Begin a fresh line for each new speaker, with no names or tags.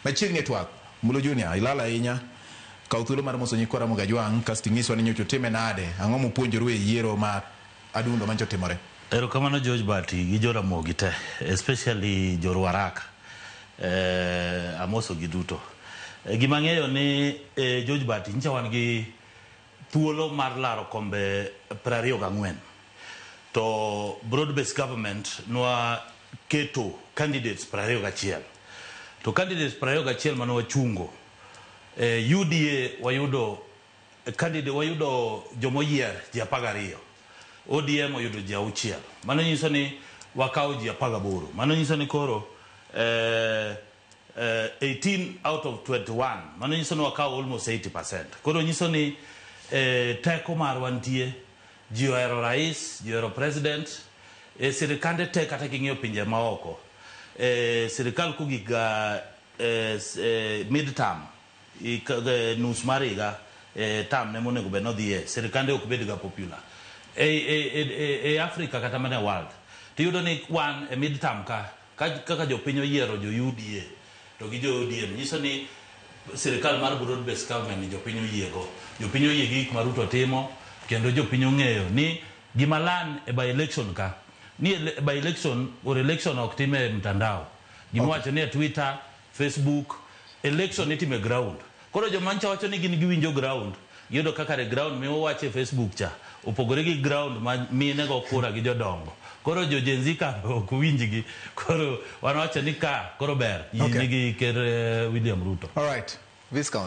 Machiegni e twak, Mbulu Junior, ilal ahinya. Kaw thuolo mar moso nyikwa Ramogi Ajwang' kasto inyiswa ni nyocha utime nade, ang'o mupuonjoru e yiero ma adundo manyocha otimore? Erokamano George
Bati gi jo Ramogi te especially jo Ruarak amosogi duto. Gima ang'eyo ni George Bati nyicha wan gi. thuolo mar laro kombe prariyo gang'wen to broad based government nwa keto candidates prariyo gachiel to candidates prariyo gachiel mane wachungo eh, UDA wayudo candidate wayudo jomoyier ji apar gariyo ODM oyudo ji auchiel mano nyiso ni wakawo ji apar gaboro mano nyiso ni koro eh, eh, 18 out of 21 mano nyiso ni wakawo almost 80 percent koro nyiso ni eh, teko marwa nitie ji ohero rais ji ohero president eh, sirikande te kata king'iyo pinje maoko eh, sirikal kogiga eh, s- eh, mid term ik- eh, nus mar higa eh, term ne monego bed nodhiye sirikande ok bedga popular e, e, e, e, e africa kata mana e world tiyudo ni wan e mid term ka Ka kaka jopiny oyiero jo UDA to gi jo ODM nyiso ni sirikal mar broad based government ni jopiny oyiego. Jopiny oyie gi gik ma Ruto timo kendo jopiny ong'eyo ni gima lan e by election ka ni by election or election ok time mtandao. Gima iwacho ni e Twitter. Facebook, election itimo e ground. Koro joma ncha wacho ni gin giwinjo ground, giyudo ka kare ground mi uwacho e Facebook cha opogore gi ground ma mine go kura gi jodongo. Koro jo Gen Z ka ok winjgi. Koro wan wacho ni ka koro ber yie Okay. nigi
ker
eh, William Ruto. All
right.
Viscount.